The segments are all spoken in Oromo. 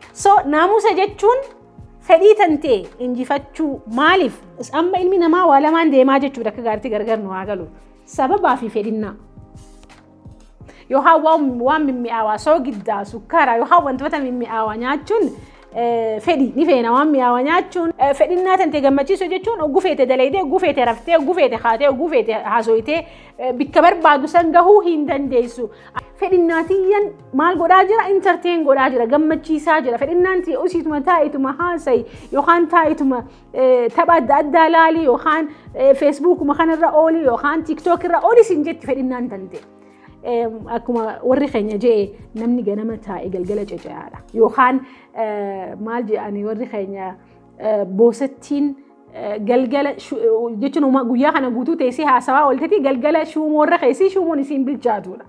So naamusa jechuun fedhii tantee injifachuu maaliif amma ilmi namaa waa lamaan deemaa jechuudha akka gaariitti gargar nu haa galu sababaa fi fedhinnaa. Yookaan waan waan mimmi'aawaa soogiddaa sukkaaraa yookaan wantoota mimmi'aawaa nyaachuun eh, fedhi ni feena waan mi'aawaa nyaachuun eh, fedhinnaa tantee gammachiisuu jechuun oguu feete dalaydee oguu feete raftee oguu feete kaatee oguu feete haasoytee Bikka barbaadu san gahuu hin dandeessu. Fedhinnaa tiyyan maal godhaa jira? Intarteen godhaa jira, gammachiisaa jira. Fedhinnaan tiyya usiituma taa'ituma haasayi yookaan taa'ituma tapha adda addaa laali yookaan feesbuukuma kanarra ooli yookaan tiiktookirra ooli sin jetti fedhinnaan tante. Akkuma warri keenya je'e namni ganama taa'e galgala cece'aadha. Yookaan maal je'ani warri keenya Boosattiin galgala jechuun guyyaa kana guutuu teessee haasawaa ooltetii galgala shuumoorra keessi shuumoon isiin bilchaatudha.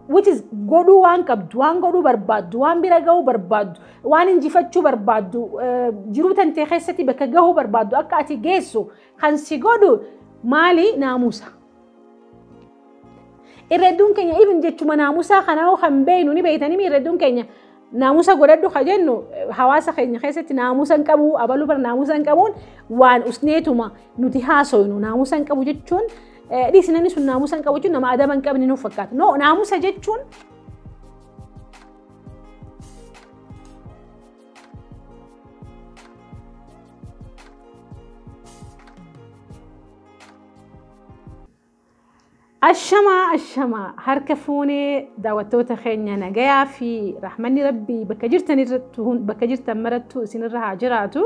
Which is godhuu waan qabdu, waan godhuu barbaaddu, waan bira gahuu barbaaddu, waan injifachuu barbaaddu, jiruu tantee keessatti bakka gahuu barbaaddu akka ati geessu kan si godhu maali naamusa. irra hedduun keenya even jechuma naamusaa kana hoo kan beeknu ni beektanii irra hedduun keenya naamusa godhadhu ka jennu hawaasa keenya keessatti naamusa hin qabu abaluu bara naamusa hin qabuun waan usneetuma nuti haasoynu naamusa hin qabu jechuun dhiisi namni sun naamusa hin qabu jechuun nama adaba hin qabne nuuf fakkaata no naamusa jechuun Ashamaa ashamaa harka fuunee daawwattoota keenya nagayaa fi rahmanni rabbii bakka jirtan irratti hun- bakka jirtan marattu isinirra haa jiraatu.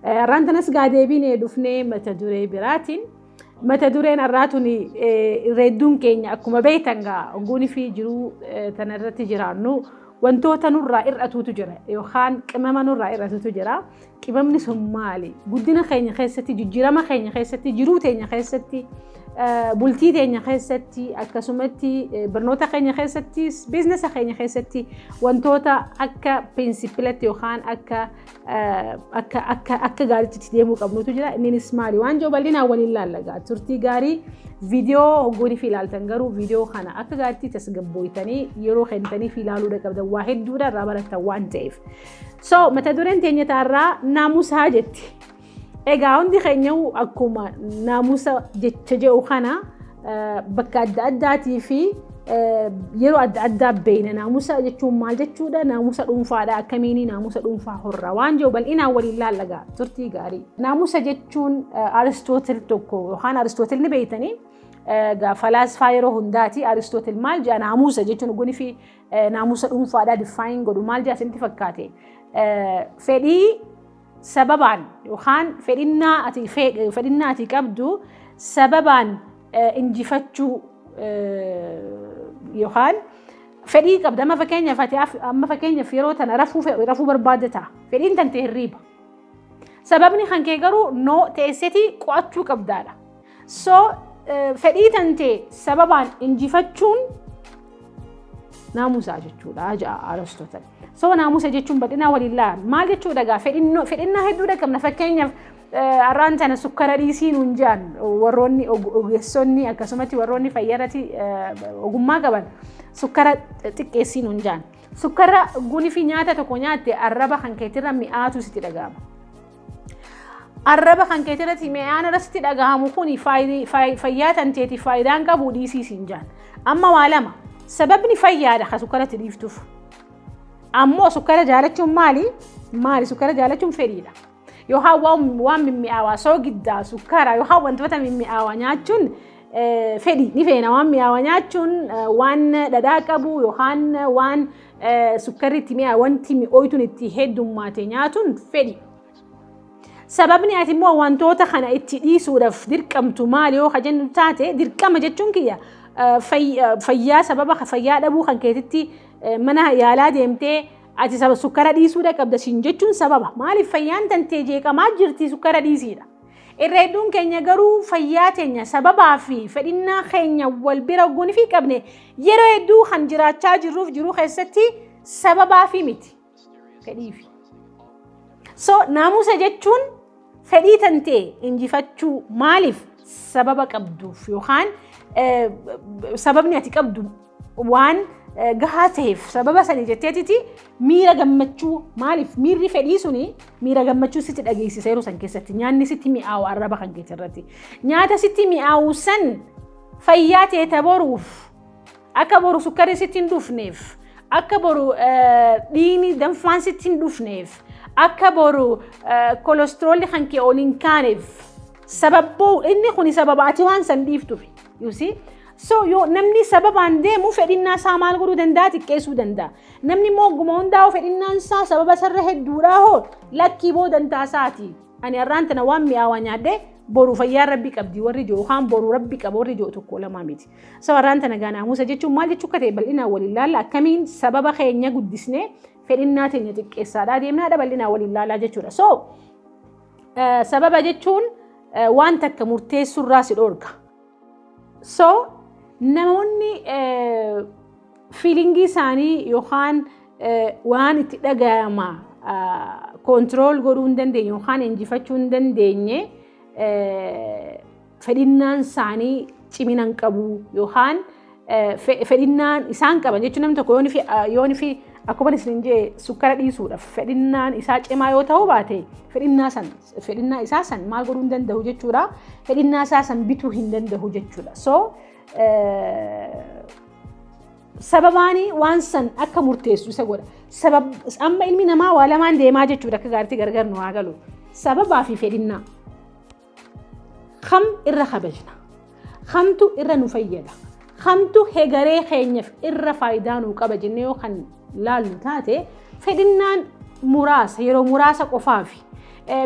Eh, Har'aan tanas gaa deebinee dhufnee mata duree biraatiin. Mata dureen har'aa tuni eh, irra hedduun keenya akkuma beektan gaa ogguunii fi jiruu eh, tana irratti jiraannu wantoota nurraa hir'atuutu jira yookaan qimama nurraa hir'atuutu jira. Qibamni sun maali? Guddina keenya keessatti, jijjiirama keenya keessatti, jiruu teenya keessatti, bultii teenya keessatti, akkasumatti barnoota keenya keessatti, biiznesa keenya keessatti wantoota akka pirinsipilatti yookaan akka akka akka akka gaariitti deemuu qabnutu jira. Innis maali? Waan jiru bal'inaan waliin laallagaa. Turtii gaarii viidiyoo hoggoonii fi ilaaltan garuu viidiyoo kana akka gaariitti tasgabbooytanii yeroo kennitanii fi ilaaluu qabdan waa hedduudha irraa barattan waan ta'eef. So mata dureen teenya taarraa naamusaa jetti. Egaa hundi keenya akkuma naamusa jecha jedhu kana bakka adda addaatii fi yeroo adda addaa beeyna naamusa jechuun maal jechuudha naamusa dhuunfaadha akkamiin naamusa dhuunfaa horra waan jiru bal'inaan waliin laallaga turtii gaarii. Naamusa jechuun Aristootil tokko yookaan Aristootil ni beeytanii falaasfaa yeroo hundaati Aristootil maal jedha naamusa jechuun gunifi Naamusa dhuunfaadhaa diffaayin godhu maal jedha isinitti fakkaate? Fedhii sababaan yookaan fedhinnaa ati fedhinnaa ati qabdu sababaan injifachuu yookaan fedhii qabda amma fakkeenyaaf ati amma fakkeenyaaf yeroo tana rafuu rafuu barbaadda ta'a fedhiin tante hirriiba sababni kan kee garuu noo teesseti qo'achuu qabdaadha. So fedhii tantee sababaan injifachuun naamusaa jechuudha ja'a Aristotle. So naamusa jechuun bal'inaa waliin laala. Maal jechuudha egaa fedhinnaa hedduudha qabna fakkeenyaaf arraan tana sukkara dhiisii nuun jedhan warroonni ogeessonni akkasumatti warroonni fayyarratti ogummaa qaban sukkara xiqqeessii nuun jedhan. Sukkara gunifii nyaata tokko nyaatte arraba kan keetirra mi'aatu sitti dhaga'ama. Arraba kan keetii irratti mi'aan irratti dhagahamu kun fayyaa tanteetiif faayidaan qabu dhiisii siin jaan. Amma waa lama sababni fayyaadha kan sukkara itti dhiiftuuf. Ammoo sukkara jaalachuun maali? Maali sukkara jaalachuun fedhiidha. Yookaan waan mimmi'aawaa soogiddaa sukkara yookaan wantoota mimmi'aawaa nyaachuun fedhi ni feena waan mi'aawaa nyaachuun waan dhadhaa qabu yookaan waan sukkarriitti mi'aa wanti mi'ooytuun itti heddummaate nyaatuun fedhi. Sababni ati immoo wantoota kana itti dhiisuudhaaf dirqamtu maal yoo ka jennu taate dirqama jechuun kiyya fayyaa sababa fayyaa dhabuu kan keetitti mana yaalaa deemtee ati saba sukkara dhiisuudha qabda siin jechuun sababa maaliif fayyaan tantee jeeqamaa jirti sukkara dhiisiidha. Irra hedduun keenya garuu fayyaa teenya sababaa fi fedhinnaa keenya wal bira ogguun fi qabne yeroo hedduu kan jiraachaa jirruuf jiruu keessatti sababaa fi miti. Fedhii fi. So naamusa jechuun fedhii tantee injifachuu maaliif sababa qabduuf yookaan sababni ati qabdu waan gahaa ta'eef sababa sanii jetteetiti miira gammachuu maaliif miirri fedhii suni miira gammachuu sitti dhageessiseeru san keessatti nyaanni sitti mi'aawu arraba kan keeti irratti nyaata sitti mi'aawu san fayyaa teeta boruuf akka boru sukkarri sitti hin dhufneef akka boru dhiigni danfaan sitti hin dhufneef akka boru kolestiroolli kan kee ol hin kaaneef sababboo inni kun sababa ati waan san dhiiftufi yuusii So yoo namni sababaan deemu fedhinnaa isaa maal godhuu danda'a xiqqeessuu danda'a. Namni immoo ogguma hundaa'u fedhinnaan isaa sababa sarra hedduudhaa hoo lakkii boo dantaa isaati. Ani har'aan tana waan mi'aawaa nyaadhee boru fayyaa rabbi qabdi warri jiru yookaan boru rabbi qaba warri jiru tokko lamaa miti. So har'aan tana gaa naamusa jechuun maal jechuu akka ta'e bal'inaan wal ilaalla akkamiin sababa keenya guddisnee fedhinnaa teenya xiqqeessaadhaa deemnaadha bal'inaan wal ilaalaa jechuudha. So sababa jechuun waan takka murteessurraa si dhorka. So namoonni fiilingii isaanii yookaan waan itti dhagayama koontirool godhuu hin dandeenye yookaan injifachuu hin dandeenye fedhinnaan isaanii cimina hin qabu yookaan fedhinnaan isaan qaban jechuun namni tokko yoon fi akkuma isin jee sukkara dhiisuudhaaf fedhinnaan isaa cimaa yoo ta'uu baate fedhinnaa san fedhinnaa isaa san maal godhuu hin danda'u jechuudha fedhinnaa isaa san bituu hin danda'u jechuudha so sababaani waan san akka murteessu isa godha sabab amma ilmi namaa waa lamaan deemaa jechuudha akka gaariitti gargar nu haa galu sababaa fi fedhinnaa Kam irra kabajna? Kamtu irra nu fayyada? Kamtu hegaree keenyaaf irra faayidaa nuu qaba jennee yoo kan laallu taate fedhinnaan muraasa yeroo muraasa qofaafi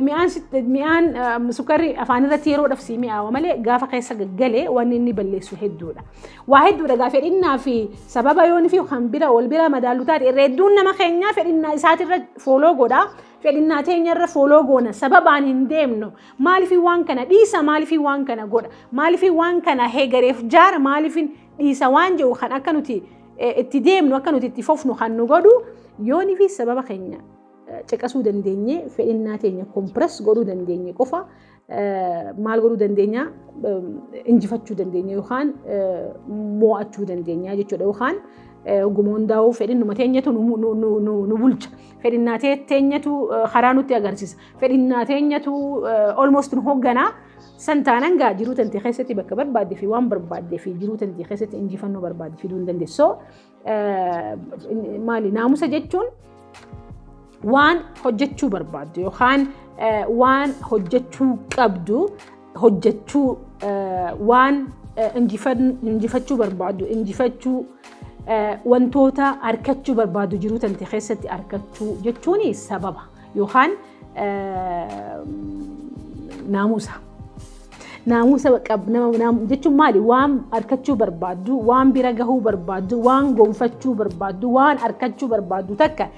mi'aan mi'aan sukkarri afaan irratti yeroo dhabsii mi'aawa malee gaafa keessa gaggalee wanni inni balleessu hedduudha. Waa hedduudha gaa fedhinnaa fi sababa yoon fi kan bira wal bira madaallu taate irra hedduun nama keenyaa fedhinnaa isaatirra fooloo godha. fedhinnaa teenya irra fooloo goona sababaan hin deemnu maaliifii waan kana dhiisa maaliifii waan kana godha maaliifii waan kana heegareef jaara maaliifiin dhiisa waan jedhu kan akka nuti itti deemnu akka nuti itti fofnu kan nu godhu yoonii fi sababa keenya caqasuu dandeenye fedhinnaa teenya kompiras godhuu dandeenye qofa maal godhuu dandeenya injifachuu dandeenya yookaan mo'achuu dandeenya jechuudha yookaan oguma hundaa'uu fedhinnuma teenyatu nu bulcha fedhinnaa teenyatu karaa nutti agarsiisa fedhinnaa teenyatu almost nu hoogganaa san taanan gaa jiruu tantee keessatti bakka barbaadde fi waan barbaadde fi jiruu tantee keessatti injifannoo barbaadde fiduu hin dandeessu. maali naamusa jechuun waan hojjechuu barbaaddu yookaan waan hojjechuu qabdu hojjechuu waan injifachuu barbaaddu injifachuu wantoota arkachuu barbaaddu jiruu tante keessatti arkachuu jechuun sababa. yookaan naamusa. Naamusa jechuun maali? Waan arkachuu barbaaddu, waan bira gahuu barbaaddu, waan gonfachuu barbaaddu, waan arkachuu barbaaddu takka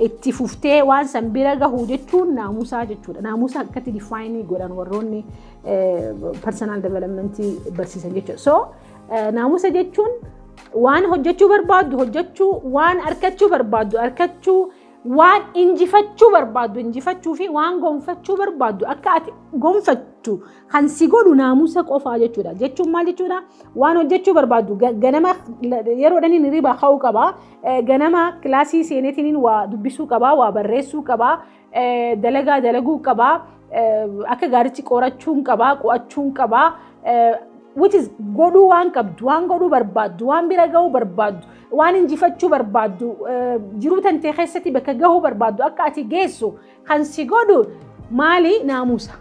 itti fuftee waan san bira gahu jechuun naamusaa jechuudha. Naamusa akkatti difaayinii godhan warroonni personal development barsiisan jechuudha. So naamusa jechuun waan hojjechuu barbaaddu hojjechuu, waan arkachuu barbaaddu arkachuu, Waan injifachuu barbaaddu injifachuu fi waan gonfachuu barbaaddu akka ati gonfattu kan si godhu naamusa qofaa jechuudha. Jechuun maal jechuudha? Waan hojjechuu barbaaddu ganama yeroodhaan inni riba ka'uu qaba. Ganama kilaasii seeneetiin waa dubbisuu qaba, waa barreessuu qaba, dalagaa dalaguu qaba. Akka gaariitti qorachuun qabaa, qo'achuun qabaa. Which is godhuu waan qabdu, waan godhuu barbaaddu, waan bira gahuu barbaaddu, waan injifachuu barbaaddu, jiruu tantee keessatti bakka gahuu barbaaddu akka ati geessu kan si godhu maali naamusa.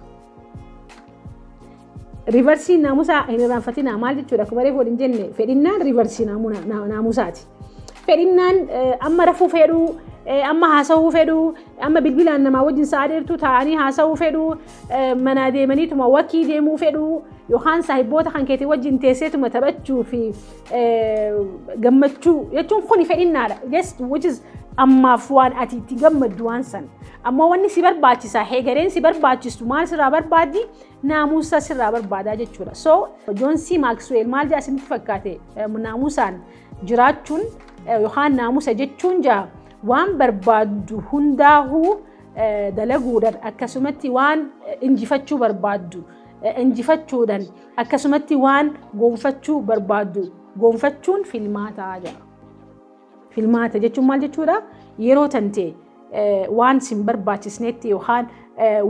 Rivarsiin naamusaa hin irraanfatinaa maal jechuudha? Akkuma reefu waliin jenne fedhinnaan rivarsii naamusaati. Fedhinnaan amma rafuu fedhuu, amma haasawuu fedhuu, amma bilbilaan namaa wajjin sa'a dheertuu taa'anii haasawuu fedhuu, manaa deemaniituma wakii deemuu fedhuu, yookaan saahibboota kan keetii wajjin teesseetuma taphachuu fi gammachuu jechuun kuni fedhinnaadha. Just which is ammaaf waan ati itti gammaddu waan san. Ammoo wanni si barbaachisaa, heegareen si barbaachistu maal sirraa barbaaddi? naamusa sirraa barbaadaa jechuudha. So Joon C. Maaksweel maal jedha isinitti fakkaate naamusaan jiraachuun yookaan naamusa jechuun jaa waan barbaaddu hundaahuu dalaguudhaan akkasumatti waan injifachuu barbaaddu injifachuudhaan akkasumatti waan goonfachuu barbaaddu goonfachuun filmaataa jedha. Filmaata jechuun maal jechuudha? Yeroo tante waan sin barbaachisneetti yookaan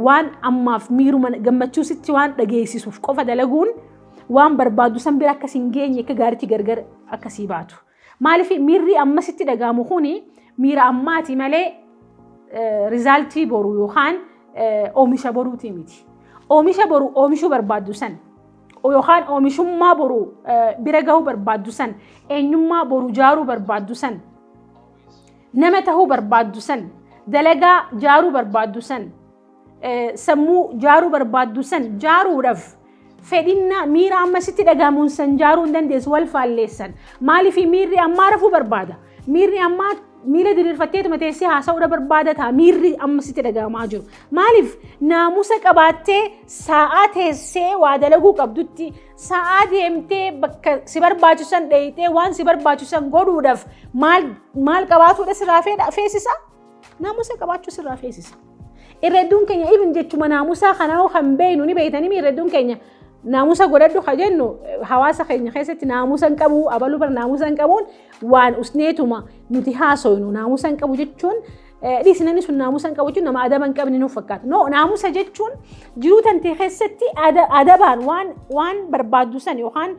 waan ammaaf miiruma gammachuu sitti waan dhageessisuuf qofa dalaguun waan barbaadu san bira akka sin geenye akka gaariitti gargar akka sii baatu. Maaliif miirri amma sitti dhagaamu kuni miira ammaati malee rizaaltii boru yookaan oomisha boruuti miti. Oomisha boru oomishuu barbaaddu san yookaan oomishummaa boru bira gahuu barbaaddu san eenyummaa boru jaaruu barbaaddu san nama tahuu barbaaddu san dalagaa jaaruu barbaaddu san sammuu jaaruu barbaaddu san jaaruudhaaf fedhinnaa miira amma sitti dhagahamuun san jaaruu hin dandeessu wal faalleessan maaliif miirri ammaa rafuu barbaada Miirri ammaa miila diriirfatteetuma teessee haasa'uudha barbaada ta'a. Miirri amma sitti dhaga'amaa jiru. Maaliif naamusa qabaattee sa'aa teessee waa dalaguu qabdutti sa'aa deemtee bakka si barbaachisan dheeyxee waan si barbaachisan godhuudhaaf maal maal qabaatuudha sirraa feesisa? Naamusa qabaachuu sirraa feesisa. Irra hedduun keenya even jechuma naamusaa kana hoo kan beeknu ni beektanii irra hedduun keenya naamusa godhadhu ka jennu hawaasa keenya keessatti naamusa hin qabu abaluu bara naamusa hin qabuun waan usneetuma nuti haasoynu naamusa hin qabu jechuun dhiisinani sun naamusa hin qabu jechuun nama adaba hin qabne nuuf fakkaata. No naamusa jechuun jiruu tantee keessatti adabaan waan waan barbaaddu san yookaan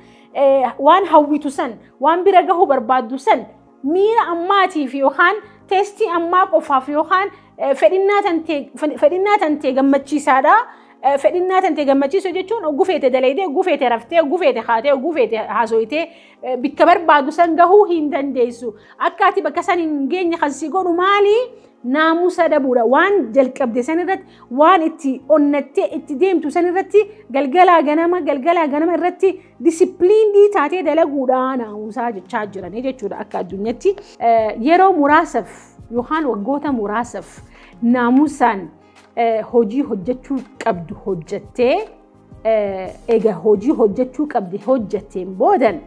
waan hawwitu san waan bira gahuu barbaaddu san miira ammaatiif yookaan teestii ammaa qofaaf yookaan eh, fedhinnaa tantee fe- fedhinnaa tantee gammachiisaadha. Eh, Fedhinnaa tantee gammachiisuu jechuun oguu feete dalaydee, oguu feete raftee, oguu feete kaatee, oguu feete haasooytee eh, bikka barbaadu san gahuu hin dandeessu. Akka ati bakka san hin geenye kan si godhu maali? Naamusa dhabuudha. Waan jalqabde san irratti waan itti onnattee itti deemtu san irratti galgalaa ganama galgalaa ganama irratti disipiliinii taatee dalaguudhaa naamusaa jechaa jiranii jechuudha akka addunyaatti yeroo muraasaaf yookaan waggoota muraasaaf naamusaan hojii hojjechuu qabdu hojjettee egaa hojii hojjechuu qabdi hojjetteen boodan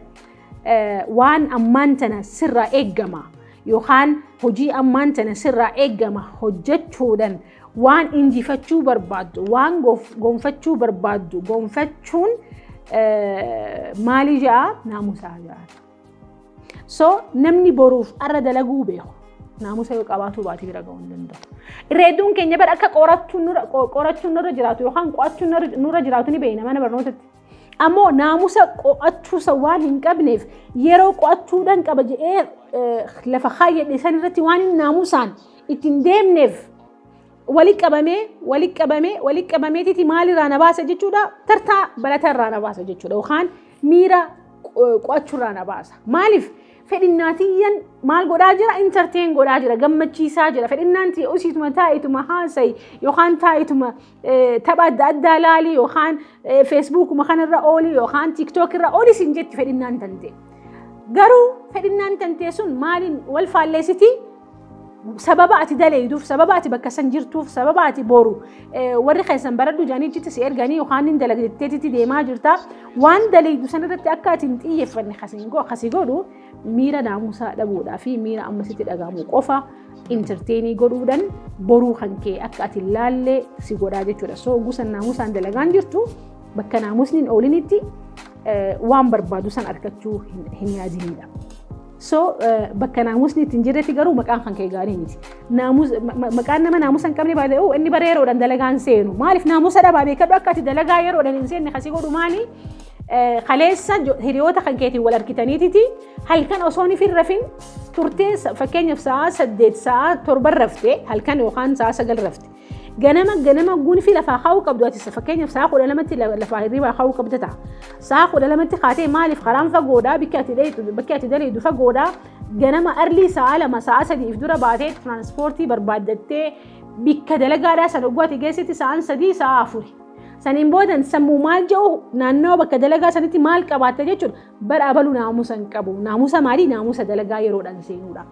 waan ammaan tana sirraa eeggama yookaan hojii ammaan tana sirraa eeggama hojjechuudhaan Waan injifachuu barbaaddu, waan gonfachuu barbaaddu, gonfachuun maalii ja'a naamusaa ja'a. So namni boruuf arra dalaguu beeku naamusa yoo qabaatuu baate bira ga'uu hin danda'u. Irra hedduun keenya bara akka qorachuun nurra jiraatu yookaan qo'achuun nurra jiraatu ni beekna mana barnootatti. Ammoo naamusa qo'achuusa waan hin qabneef yeroo qo'achuudhaan qaba jedhee lafa kaayyadhe san irratti waan hin naamusaan ittiin deemneef wali qabamee wali qabamee wali qabameetiti maalirraa na baasa jechuudha tartaa baratarraa na baasa jechuudha yookaan miira qo'achuurraa na baasa maaliif fedhinnaatiyyan maal godhaa jira intarteen godhaa jira gammachiisaa jira fedhinnaan tiyya usiituma taa'ituma haasayi yookaan taa'ituma tapha adda addaa laalii yookaan feesbuukuma kanarra oolii yookaan tiiktook irra oolii siin jetti fedhinnaan tantee. Garuu fedhinnaan tantee sun maaliin wal faalleessiti? Sababa ati daleeyduuf, sababa ati bakka san jirtuuf, sababa ati boru warri keessan baradhu jedhanii jitti si erganii yookaan hin dalagdeetti deemaa jirta. Waan daleeydu sanarratti akka ati hin xiyyeeffanne kasi godhu miira naamusaa dhabuudhaa fi miira amma sitti dhagahamu qofa intarteenii godhuudhaan boruu kan kee akka ati laallee si godhaa jechuudha. So gusa naamusaan dalagaan jirtu bakka naamusni hin oolinitti waan barbaadu san argachuu hin yaadinidha. So bakka naamusni itti hin jirretti garuu maqaan kan kee gaarii miti. Maqaan nama naamusa hin qabne baay'ee inni bara yeroodhaan dalagaan seenu. Maaliif naamusa dhabaa beekadhu akka ati dalagaa yeroodhaan hin seenne kasi godhu maali? Kaleessa hiriyoota kan keetiin wal argitaniititi halkan osoo hin firrafin turtee fakkeenyaaf sa'a saddeet sa'a torban rafte halkan yookaan sa'a sagal rafte. Ganama ganama gunfii lafaa kaa'uu qabdu ati fakkeenyaaf sa'a kudha lamatti lafaa hirribaa kaa'uu qabda ta'a. Sa'a kudha lamatti kaatee maaliif karaan fagoodhaa bakki ati dheedu bakki ati daleedu fagoodhaa ganama arlii sa'a lama sa'a sadiif dura baatee tiraanspoortii barbaaddattee bikka dalagaadhaa sana oguu ati geessetti sa'aan sadii sa'a afuri. Saniin boodan sammuu maal jedhu naannawa bakka dalagaa sanitti maal qabaatta jechuudha. Bara abaluu naamusa hin qabu. Naamusa maalii? Naamusa dalagaa yeroodhaan seenuudha.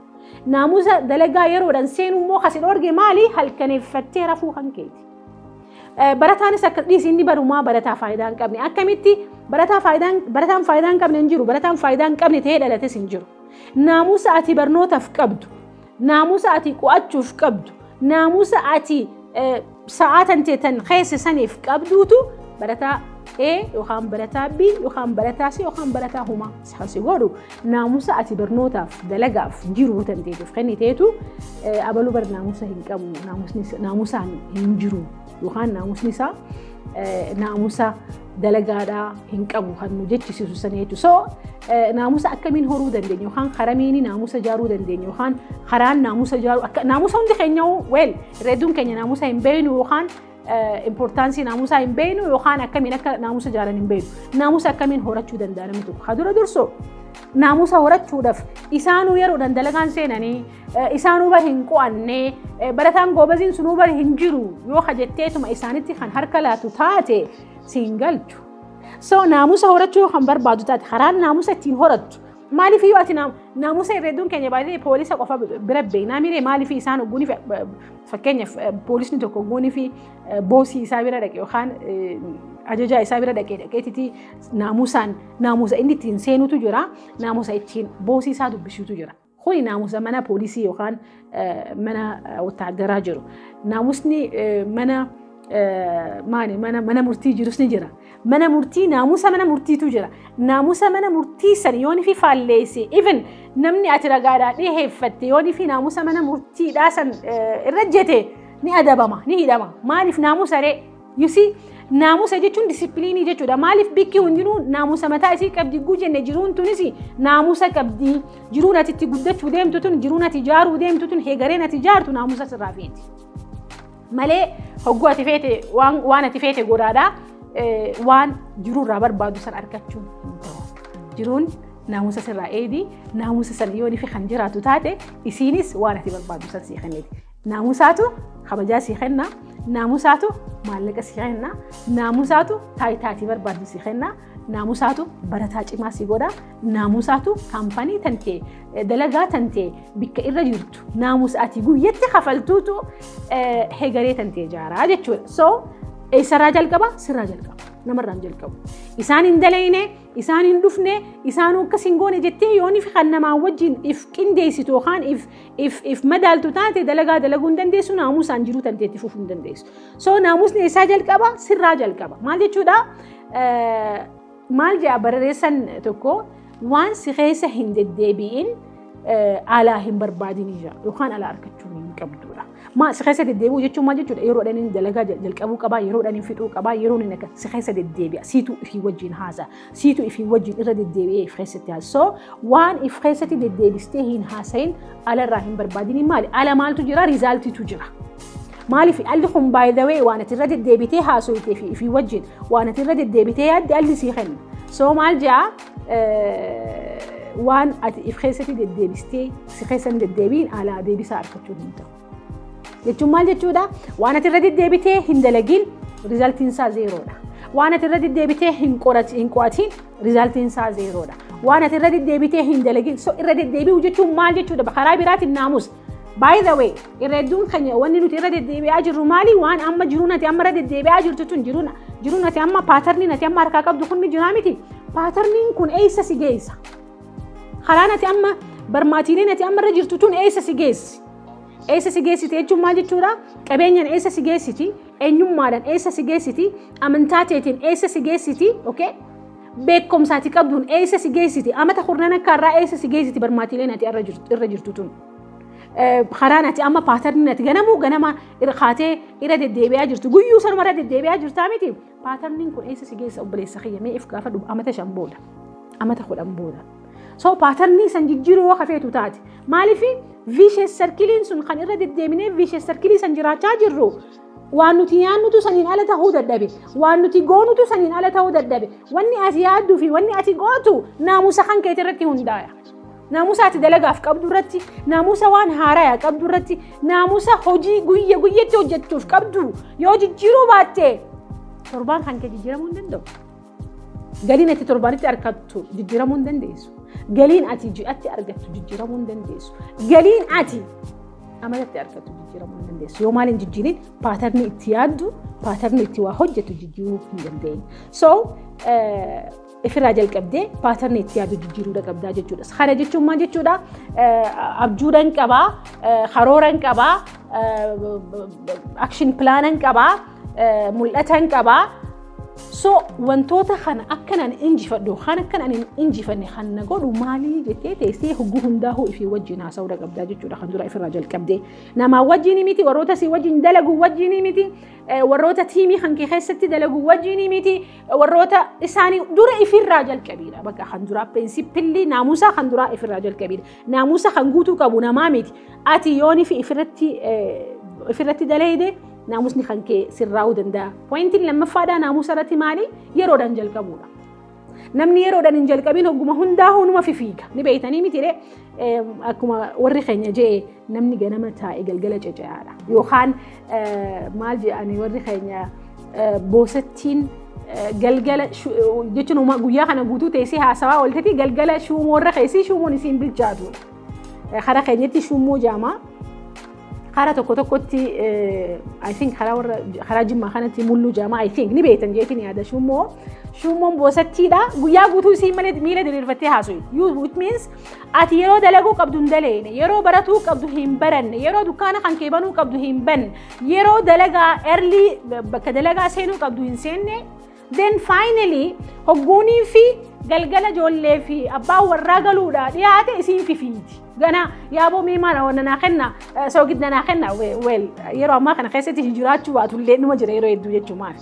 Naamusa dalagaa yeroodhaan seenuu immoo kasi dhoorge maali? Halkaneeffattee rafuu kan keeti. Barataanis akka dhiisii inni barumaa barataa faayidaa hin qabne. Akkamitti barataa faayidaa barataan faayidaa hin qabne hin jiru. Barataan faayidaa hin qabne ta'ee dhalates hin jiru. Naamusa ati barnootaaf qabdu. Naamusa ati qo'achuuf qabdu, naamusa ati sa'aa tantee tan keessa saniif qabduutu barataa A yookaan barataa B yookaan barataa C yookaan barataa humaa isaan si godhu naamusa ati barnootaaf dalagaaf jiruu tanteetiif kenniteetu abaluu bar naamusa hin qabu naamusaan hin jiru yookaan naamusni isaa naamusa dalagaadhaa hin qabu kan nu jechisiisu sana jechuudha. So naamusa akkamiin horuu dandeenya yookaan karamiin naamusa ijaaruu dandeenya yookaan karaan naamusa ijaaruu akka naamusa hundi keenya weel reeduun keenya naamusa hin beeknu yookaan importansii naamusaa hin beeknu yookaan akkamiin akka naamusa ijaaran hin beeknu. Naamusa akkamiin horachuu danda'a namni tokko. Haa dura dursoo naamusa horachuudhaaf isaanuu yeroodhaan dalagaan seenanii isaanuu bar hin qo'anne barataan goobaziin sunuu bar hin jiru yoo kajetteetuma isaanitti kan harka laatu taate siin galchu. So naamusa horachuu yoo kan barbaadu taate karaan naamusa ittiin horattu maaliif yoo ati naamusa herreeduun keenya baay'ee poolisa qofa bira beeknaa miiree maaliif isaan ogguun fi fakkeenyaaf poolisni tokko ogguun fi boosii isaa bira dhaqe yookaan ajajaa isaa bira dhaqee dhaqeetiti naamusaan naamusa inni ittiin seenutu jira naamusa ittiin boosii isaa dubbisuutu jira. Kuni naamusa mana poolisii yookaan mana wotaaddaraa jiru. Naamusni mana maali mana mana murtii jirus ni jira. Mana murtii naamusa mana murtiitu jira. Naamusa mana murtii san yoon fi faalleesse even namni ati ragaadhaa dhiheeffatte yoon fi naamusa mana murtiidhaa san irra jete ni adabama ni hidhama. Maaliif naamusa ree? You see, naamusa jechuun disipiliinii jechuudha. Maaliif bikki hundinuu naamusa mataa isii qabdi guu jenne jiruun tunis naamusa qabdi. Jiruun ati itti guddachuu deemtu tun, jiruun ati ijaaruu deemtu tun, heegareen ati ijaartu naamusa sirraa feeti. Malee hogguu ati feete waan, waan ati feete godhaadha. Eh, waan jiruurraa barbaadu san argachuun hin ta'u. Jiruun naamusa sirraa eedi, naamusa san yoon ifi kan jiraatu taate isiinis waan ati barbaadu san sii kenniti. Naamusaatu kabajaa sii kenna. Naamusaatu maallaqa sii kenna. Naamusaatu taayitaa ati barbaaddu sii kenna. Naamusaatu barataa cimaa sii godha. Naamusaatu kaampanii tantee dalagaa tantee bikka irra jirtu naamusa ati guyyatti kafaltuutu hegaree tantee ijaaraa jechuudha. So eessarraa jalqaba sirraa jalqaba namarraan jalqabu. Isaan hin dalayne isaan hin dhufne isaanuu akkas hin goone jettee yooniif kan namaa wajjin if qindeessitu yookaan if if if madaaltu taate dalagaa dalaguu hin dandeessu naamusaan jiruu tantee itti fufuu hin dandeessu. So naamusni eessaa jalqaba sirraa jalqaba. Maal jechuudha? Maal jedha barreessan tokko waan si keessa hin deddeebi'in alaa hin barbaadin ija yookaan alaa argachuu hin qabdudha. Maa si keessa deddeebi'u jechuun maal jechuudha? Yeroodhaan inni dalagaa jalqabuu qabaa, yeroodhaan inni fixuu qabaa, yeroon inni akka si keessa deddeebi'a. Siitu fi wajjin haasa'a. Siitu ifii wajjin irra deddeebi'ee if keessatti haasa. So waan if keessatti deddeebistee hin haasayin alarraa hin barbaadini maali? Ala maaltu jira? Riizaaltiitu jira. Maaliif alli kun baay'ee waan ati irra deddeebitee haasofitee fi ifii wajjin waan ati irra deddeebitee yaadde alli sii kenna. So maal jaa waan ati if keessatti deddeebistee si keessan deddeebiin alaa deebisaa argachuu hin ta'u. jechuun maal jechuudha waan ati irra deddeebitee hin dalagiin rizaaltiin isaa zeeroodha waan ati irra deddeebitee hin qorati- hin qo'atiin rizaaltiin isaa zeeroodha waan ati irra deddeebitee hin dalagiin so irra deddeebi'u jechuun maal jechuudha karaa biraatiin naamus By the way, irra hedduun keenya wanni nuti irra deddeebi'aa jirru maali? Waan amma jiruun ati amma irra deddeebi'aa jirtu tun jiruun jiruun ati amma paatarniin ati amma harkaa qabdu kun ni jiraa miti. Paatarniin kun eessa si geessa? Karaan ati amma barmaatiileen ati amma irra jirtu tun eessa si geessi? Eessa si geessiti jechuun maal jechuudha? Qabeenyaan eessa si geessiti? Eenyummaadhaan eessa si geessiti? Amantaa teetiin eessa si geessiti? Okay? Beekumsaati qabduun eessa si geessiti? Amata kurnan akka irraa eessa si geessiti barmaatiileen ati irra jirtu tun? Karaan ati amma paatarniin ati ganamuu ganama irra kaatee irra deddeebi'aa jirtu. Guyyuu sanuma irra deddeebi'aa jirtaa miti? Paatarniin kun eessa si geessa obboleessa kiyya mee if gaafadhu amata shan booda amata kudhan booda. So paatarnii san jijjiiruu yoo kafeetu taate maaliif viishes sarkiliin sun kan irra deddeebinee viishes sarkilii san jiraachaa jirru waan nuti nyaannutu saniin ala ta'uu dadhabe waan nuti goonutu saniin ala ta'uu dadhabe wanni ati yaaddu fi wanni ati gootu naamusa kan keetirratti hundaaya. Naamusa ati dalagaaf qabdu irratti, naamusa waan haaraya qabdu irratti, naamusa hojii guyya guyyatti hojjettuuf qabdu yoo jijjiiruu baatte torbaan kan kee jijjiiramuu hin danda'u. Galiin ati torbaanitti argattu jijjiiramuu hin dandeessu. Galiin ati ji'atti argattu jijjiiramuu hin dandeessu. Galiin ati amalatti argattu jijjiiramuu hin dandeessu. Yoo maal hin jijjiirin paatarnii itti yaaddu, paatarnii itti waa hojjettu jijjiiruu hin dandeenye. So ifirraa jalqabdee paatarnii itti yaadu jijjiiruudha qabdaa jechuudha. Kana jechuun maal jechuudha? Abjuudhaan qabaa, karooraan qabaa, akshin pilaanaan qabaa, mul'ataan qabaa. So wantoota kana akkan ani injifadhu kan akkan ani injifanne kan na godhu maalii jettee teessee hogguu hundaa'uu ifii wajjin haasa'uudha qabdaa jechuudha kan dura ifirraa jalqabdee. Namaa wajjin miti warroota si wajjin dalagu wajjin miti warroota tiimii kan kee keessatti dalagu wajjin miti warroota isaanii dura ifirraa jalqabiidha. Bakka kan duraa pirinsipilli naamusaa kan duraa ifirraa jalqabiidha. Naamusa kan guutuu qabu namaa miti. Ati yoon fi ifirratti ifirratti daleeyde naamusni kan kee sirraa'uu danda'a. Pointiin lammaffaadhaa naamusa irratti maali? Yeroodhaan jalqabuudha. Namni yeroodhaan hin jalqabin hogguma hundaa hunuma fifiiga. Ni beeytanii miti ree? Akkuma warri keenya je'e namni ganama taa'e galgala cece'aadha. Yookaan maal je'ani warri keenya boosattiin galgala jechuun guyyaa kana guutuu teessee haasawaa ooltetti galgala shuumoo irra keessi shuumoon isiin bilchaatudha. Kara keenyatti shuumoo jaamaa. Karaa tokko tokkotti I think karaa warra karaa jimmaa kanatti mulluu jaamaa I think ni beektan jeetiin yaada shummoo shummoon boosattiidha guyyaa guutuu isiin malee miila diriirfattee haasoyi you it means ati yeroo dalaguu qabdu hin daleene yeroo baratuu qabdu hin baranne yeroo dukkaana kan kee banuu qabdu hin banne yeroo dalagaa erlii bakka dalagaa seenuu qabdu hin seenne Then finally hogguunii fi galgala ijoollee fi abbaan warraa galuudha dhiyaate isiin fifiiti. Gana yaaboo mee maala wanna naa kenna soogidda naa kenna weel yeroo ammaa kana keessatti hin jiraachuu baatu illee numa jira yeroo hedduu jechuu maal.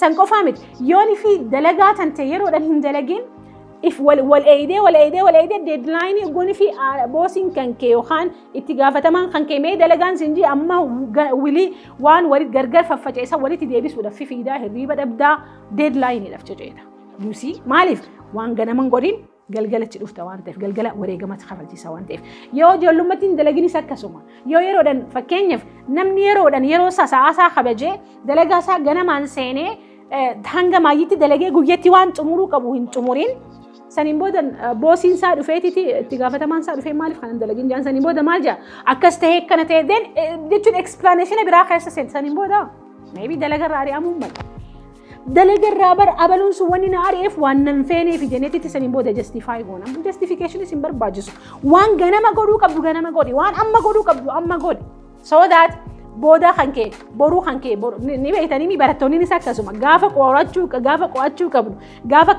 San qofaa miti yoon fi dalagaa tan ta'e yeroodhaan hin dalagin if wal eeydee wal eeydee wal eeydee deadline hogguunii fi boosiin kan kee yookaan itti gaafatamaan kan kee mee dalagaan siin jee amma wilii waan walit gargar faffaca'e san walitti deebisuudhaaf fifiidaa hirriiba dhabdaa deedlaayiniidhaaf ceceeta. Yuusii maaliif waan ganaman godhin galgalachi dhufta waan ta'eef galgala wareegamatti kafalchiisa waan ta'eef yoo ijoollummaatti hin dalaginis akkasuma yoo yeroodhaan fakkeenyaaf namni yeroodhaan yeroo isaa sa'aa isaa kabajee dalagaa isaa ganamaan seenee hanga maayyitti dalagee guyyatti waan xumuruu qabu hin xumuriin saniin booda boosiin isaa dhufeetiti itti gaafatamaan isaa dhufee maaliif kanan dalagin jedhan saniin booda maal jedha akkas ta'ee akkana ta'ee deen jechuun eksplaaneeshina biraa keessa seenta saniin booda meebii dalagarraa ari'amuu mala. Dalagarraa bara abaluun sun wanni na ari'eef waan nan feenee fi jeneetitti saniin booda jastifaayi goona. Jastifikeeshiniis hin barbaachisu. Waan ganama godhuu qabdu ganama godhi. Waan amma godhuu qabdu amma godhi. So that boodaa kan kee boruu kan kee boru- ni ni beektanii mi barattoonnis akkasuma gaafa qorachuu gaafa qo'achuu qabnu gaafa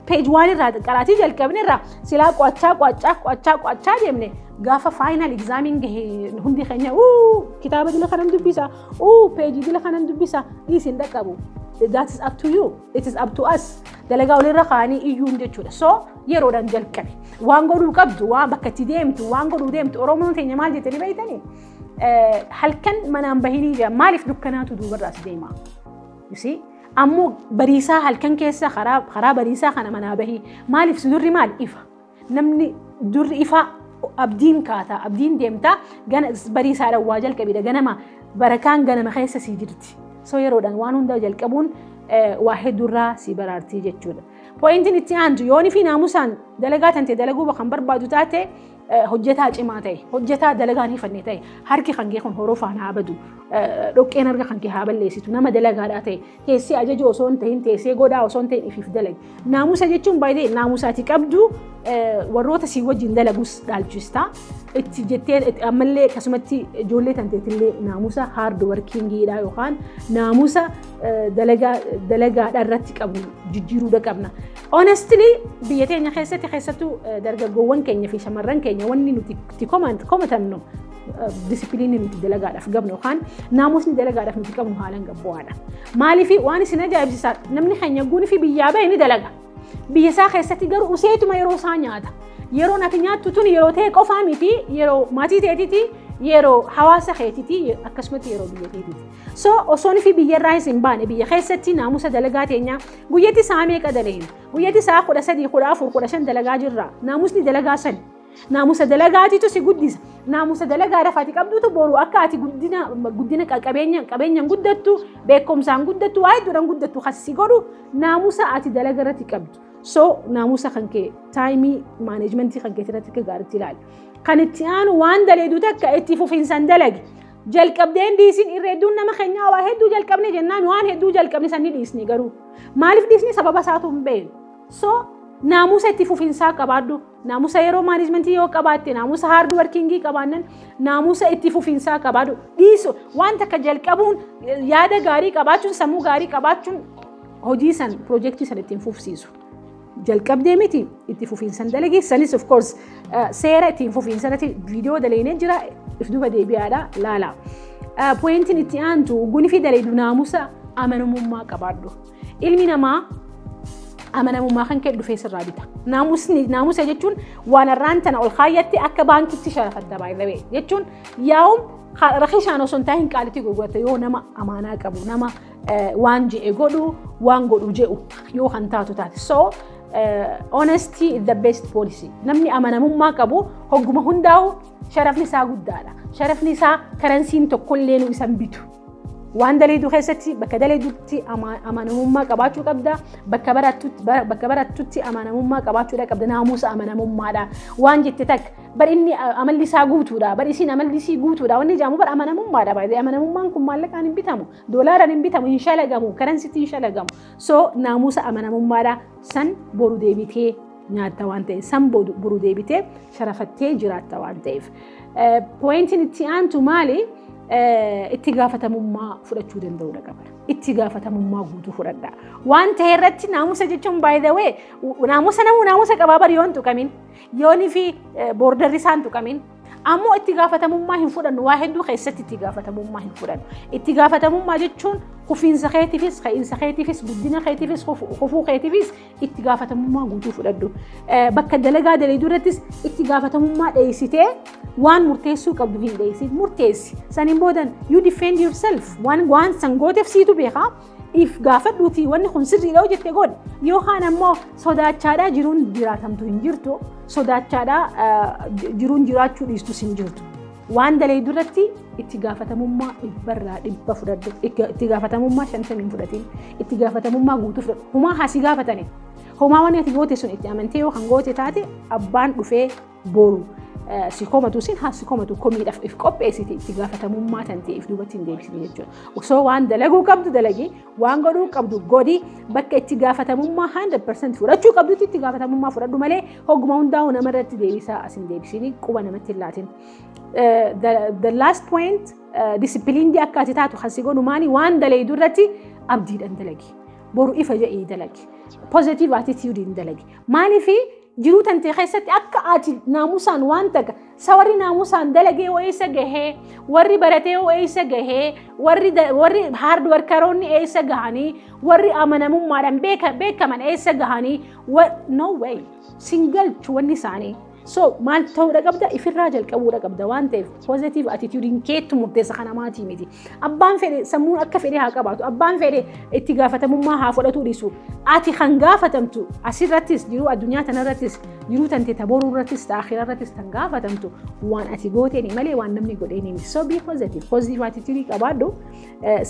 page waan irraa qaraatii jalqabne irraa silaa qo'achaa qo'achaa qo'achaa qo'achaa deemne gaafa final exaamiin gahe hundi keenya uu kitaaba dila kanan dubbisa uu page dila kanan dubbisa dhiisin dhaqqabu that is up to you It is up to us. Dalagaa walirra kaanii iyyuun jechuudha. So yeroodhaan jalqabe. Waan godhuu qabdu, waan bakka itti deemtu, waan godhuu deemtu. Oromoon teenya maal jettanii beektanii? Halkan manaan bahinii jira. Maaliif dukkanaatu duubarraas deema? Yusii? Ammoo bariisaa halkan keessa karaa bariisaa kana manaa bahii. Maaliif sudurri maal ifa? Namni durri ifaa abdiin kaata, abdiin deemta, gana barii isaadhaan waa jalqabidha. Ganama barakaan ganama keessa sii jirti. So yeroodhaan waan hundaa jalqabuun waa hedduurraa sii baraartii jechuudha. Pooyintiin itti aantu yoon fi naamusaan dalagaa tantee dalaguu kan barbaadu taate hojjetaa cimaa ta'e, hojjetaa dalagaan hifanne ta'e, harki kan kee kun horofaan haa badu, dhoqqeen harka kan kee haa balleessitu, nama dalagaadhaa ta'e, Teessee ajajuu osoo hin ta'in teessee godhaa osoo hin ta'in ifiif dalagi. Naamusa jechuun baay'ee naamusa ati qabdu warroota si wajjin dalagus dhaalchista. Itti jettee ammallee akkasumatti ijoollee tanteetillee naamusa haard warkiingiidha yookaan naamusa dalagaadha irratti qabnu jijjiiruudha qabna. Honestly biyya teenya keessatti keessattuu dargaggoowwan keenya fi shamarran keenya wanni nuti itti komatannu disipiliinni nuti dalagaadhaaf qabnu yookaan naamusni dalagaadhaaf nuti qabnu haalaan gabbu'aadha. Maaliif waan isin ajaa'ibsiisaa namni keenya guunii fi biyyaa bahe ni dalaga. Biyya isaa keessatti garuu useetuma yeroo isaa nyaata. Yeroon ati nyaattu tun yeroo ta'e qofaa miti yeroo maatii ta'eetiti yeroo hawaasa keetiti akkasumatti yeroo biyya keetiti. So osoon fi biyya irraa isin baane biyya keessatti naamusa dalagaa teenyaa guyyatti isaa meeqa dalagna guyyatti isaa kudha sadii kudha afur kudha shan dalagaa jirra naamusni dalagaa sani. Naamusa dalagaatitu si guddisa. Naamusa dalagaa lafa ati qabdutu boru akka ati guddina guddina qabeenya qabeenyaan guddattu, beekumsaan guddattu, waa hedduudhaan guddattu kan si godhu naamusa ati dalaga irratti qabdu. So naamusa kan kee taayimii maaneejmentii kan keetii irratti akka gaariitti ilaali. Kan itti aanu waan daleedu takka itti fufinsaan dalagi. Jalqabdeen dhiisin irra hedduun nama keenyaa waa hedduu jalqabne jennaan waan hedduu jalqabne sanni dhiisne garuu. Maaliif dhiisne sababa isaatu hin beeknu. So naamusa itti fufinsaa qabaadhu. Naamusa yeroo maanejmentii yoo qabaatte, naamusa haard warkingii qabaannan, naamusa itti fufiinsaa qabaadhu. Dhiisu waan takka jalqabuun yaada gaarii qabaachuun, sammuu gaarii qabaachuun hojii san, piroojeektii san ittiin fufsiisu. Jalqabdee miti itti fufiinsan dalagii sanis of course seera ittiin fufiinsa irratti viidiyoo dalaynee jira if duba deebi'aadha laala. Pooyintiin itti aantu gunifii dalaydu naamusa amanamummaa qabaadhu. Ilmi namaa amanamummaa kan kee dhufee sirraa bita. Naamusni naamusa jechuun waan har'aan tana ol kaayyatti akka baankitti sharafatta baay'ee jechuun yaa'uun rakishaan osoo hin taa'in qaalitti gurgurata yoo nama amaanaa qabu nama waan je'e godhu waan godhu je'u yoo kan taatu taate. So honesty is the best policy. Namni amanamummaa qabu hogguma hundaa'u sharafni isaa guddaadha. Sharafni isaa karansiin tokkollee nu isan bitu. Waan daleedu keessatti bakka daleedutti amanamummaa qabaachuu qabda. Bakka barattutti amanamummaa qabaachuudha qabda. Naamusa amanamummaadha. Waan jette takka bar inni amalli isaa guutuudha. Bar isiin amalli isii guutuudha. Wanni jedhamu bar amanamummaadha. Baay'ee amanamummaan kun maallaqaan hin bitamu. Doolaaraan hin bitamu. Hin shalagamu. Karansitti hin shalagamu. So naamusa amanamummaadha. San boru deebitee nyaatta waan ta'eef san boru deebitee sharafattee jiraatta waan ta'eef. Pooyintiin itti aantu maali? Itti gaafatamummaa fudhachuu danda'uudha qabna. Itti gaafatamummaa guutuu fudhadha. Waan ta'e irratti naamusa jechuun by the way naamusa namuu naamusa qabaa bari yoon tuqamin yoonii fi boordarri isaan tuqamin ammoo itti gaafatamummaa hin fudhannu waa hedduu keessatti itti gaafatamummaa hin fudhannu. Itti gaafatamummaa jechuun kufiinsa keetiifis, ka'iinsa keetiifis, guddina keetiifis, kufuu keetiifis itti gaafatamummaa guutuu fudhadhu. Bakka dalagaa dalayduu irrattis itti gaafatamummaa dheessitee waan murteessuu qabdu hin dheessin murteessi. Saniin boodan you defend yourself waan waan san gooteef siitu beekaa. If gaafadhuutii wanni kun sirriidha hojjette godhi. Yookaan ammoo sodaachaadhaa jiruun jiraatamtu hin jirtu. Sodaachaadhaa jiruun jiraachuu dhiistus hin jirtu. Waan daleeydu irratti itti gaafatamummaa dhibbarraa dhibba fudhadhu. Itti gaafatamummaa shantamii hin fudhatiin. Itti gaafatamummaa guutuu fudhadhu. Homaa haa si gaafatani. Homaa waan ati goote sun itti amantee yoo kan goote taate abbaan dhufee booru si komatu sin haa si komatu komiidhaaf if qopheessite itti gaafatamummaa tan ta'eef duubatti hin deebisine jechuudha. Osoo waan dalaguu qabdu dalagii waan godhuu qabdu godhi bakka itti gaafatamummaa 100% fudhachuu qabdutti itti gaafatamummaa fudhadhu malee hogguma hundaa'u nama irratti deebisaa asin deebisiin quba namatti hin laatin. The last point disipiliinii akka ati taatu kan si godhu maali waan daleeydu irratti abdiidhaan dalagi. Boru ifa jedhii dalagi. Positive attitude hin dalagi. Maaliif Jiruu tantee keessatti akka ati naamusaan waan takka sa warri naamusaan dalagee hoo eessa gahee warri baratee hoo eessa gahee warri da- warri hard workeroonni eessa gahanii warri amanamummaadhaan beeka- beekaman eessa gahanii wa- no way sin galchu wanni isaanii. So maal ta'uudha qabda ifirraa jalqabuudha qabda waan ta'eef positive attitude hin keettu murteessa kana maatii miti. Abbaan fedhe sammuun akka fedhe haa qabaatu. Abbaan fedhe itti gaafatamummaa haa fudhatuu dhiisu. Ati kan gaafatamtu asirrattis jiruu addunyaa tanarrattis jiruu tante taboruu irrattis ta'akhira irrattis kan gaafatamtu waan ati gooteeni malee waan namni godheeni miti. So be positive. Positive attitude qabaadhu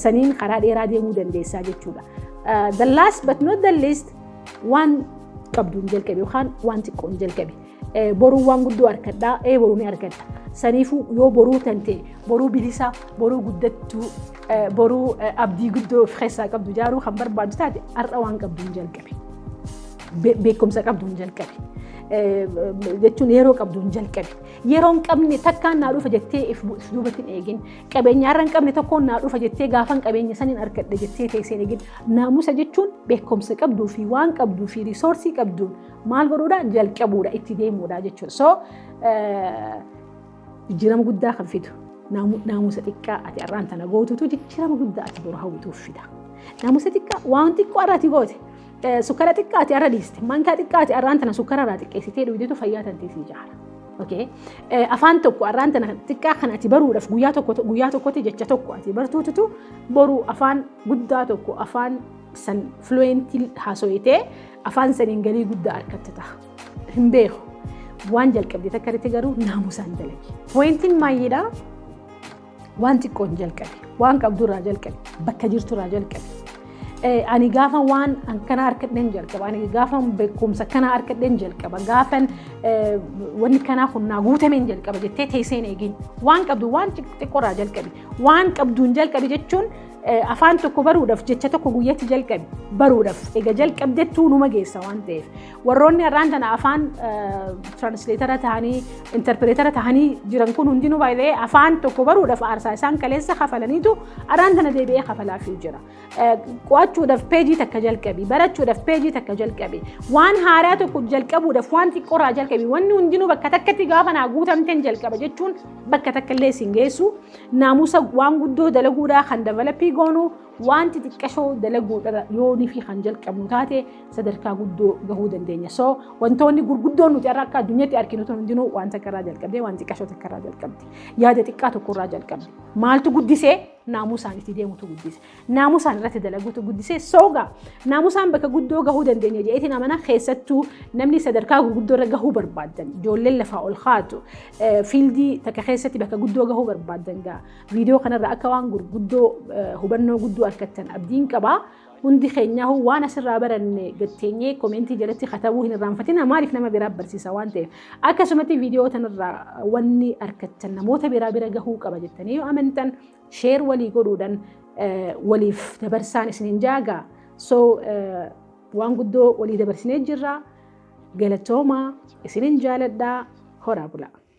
saniin karaa dheeraa deemuu dandeessaa jechuudha. The last but not the least waan qabduun jalqabe yookaan waan xiqqoon jalqabe. Boruu waan guddoo arkadhaa ee boruu ni argadha. Saniifuu yoo boruu tante boruu bilisaa boruu guddattuu boruu abdii guddoo of keessaa qabdu ijaaruu kan barbaadu taate har'a waan qabdu hin jalqabe. Beekumsa qabdu hin jalqabe. jechuun yeroo qabdu hin jalqabe. Yeroo hin qabne takkaan naa dhufa jettee if duubatti hin eegin. Qabeenya har'a hin qabne tokkoon naa dhufa jettee gaafan qabeenya saniin argadhe jettee teessee hin eegin. Naamusa jechuun beekumsa qabduu fi waan qabduu fi riisoorsii qabduun Maal godhuudha? Jalqabuudha, itti deemuudha jechuudha. So jijjiirama guddaa kan fidu naamusa xiqqaa ati har'aan tana gootutu jijjiirama guddaa ati boru hawwituuf fida. Naamusa xiqqaa waan xiqqoo har'a ati goote sukkara xiqqaa ati har'a dhiiste mankaa xiqqaa ati har'aan tana sukkara irraa xiqqeessitee dhugdeetu fayyaa tantee si ijaara. Afaan tokko har'aan tana xiqqaa kan ati baruudhaaf guyyaa tokko guyyaa tokkotti jecha tokko ati bartuututu boru afaan guddaa tokko afaan san fluentii haasooyitee Afaan saniin galii guddaa argatta taha. Hin beeku. Waan jalqabde takka irratti garuu naamusaan dalagi. Pooyintiin maayyiidha. Waan xiqqoon jalqabe. Waan qabdurraa jalqabe. Bakka jirturraa jalqabe. Ani gaafa waan akkana harkadheen jalqaba. Ani gaafa beekumsa akkana harkadheen jalqaba. Gaafa wanni kanaa kun naa guutameen jalqaba jettee teesseen eegin. Waan qabdu waan xiqqoorraa jalqabe. Waan qabduun jalqabe jechuun Afaan tokko baruudhaaf jecha tokko guyyatti jalqabi baruudhaaf ega jalqabdettuu numa geessa waan ta'eef warroonni har'aan tana afaan tiraansleetara ta'anii intarpireetara ta'anii jiran kun hundinuu baay'ee afaan tokko baruudhaaf aarsaa isaan kaleessa kafalaniitu har'aan tana deebi'ee kafalaafii jira. Qo'achuudhaaf peejii takka jalqabi barachuudhaaf peejii takka jalqabi waan haaraa tokko jalqabuudhaaf waan xiqqoorraa jalqabi wanni hundinuu bakka takkatti gaafa naa guutamteen jalqaba jechuun bakka takka illee isin geessu. naamusa waan guddoo dalaguudhaa kan davalapii goonu waan xixiqqashoo dalaguudhaa yoonii fi kan jalqabnu taate sadarkaa guddoo gahuu dandeenya. So wantoonni gurguddoon nuti har'a akka addunyaatti arginu tun hundinuu waan takkarraa jalqabdee waan xiqqashoo takkarraa jalqabde yaada xiqqaa tokkorraa jalqabde maaltu guddisee naamusaan itti deemutu guddise. naamusaan irratti dalaguutu guddisee sooga naamusaan bakka guddoo gahuu dandeenya jedheetiin amana keessattuu namni sadarkaa gurguddoo irra gahuu barbaadan ijoolleen lafaa ol kaatu fiildii takka keessatti bakka guddoo gahuu barbaadan gaa viidiyoo kanarra akka waan gurguddoo hubannoo guddoo argattan abdiin qabaa hundi keenyaa waan asirraa baranne gatteenyee koomeentii jalatti katabuu hin irraanfatina maaliif nama biraa barsiisa waan ta'eef akkasumatti viidiyoo tanarraa wanni argattan namoota biraa bira gahuu qaba jettanii yoo amantan Share walii godhuudhan waliif dabarsaan isinin jaagaa. So waan guddoo walii dabarsinee jirra. Galatoomaa isinin jaaladhaa horaa bulaa.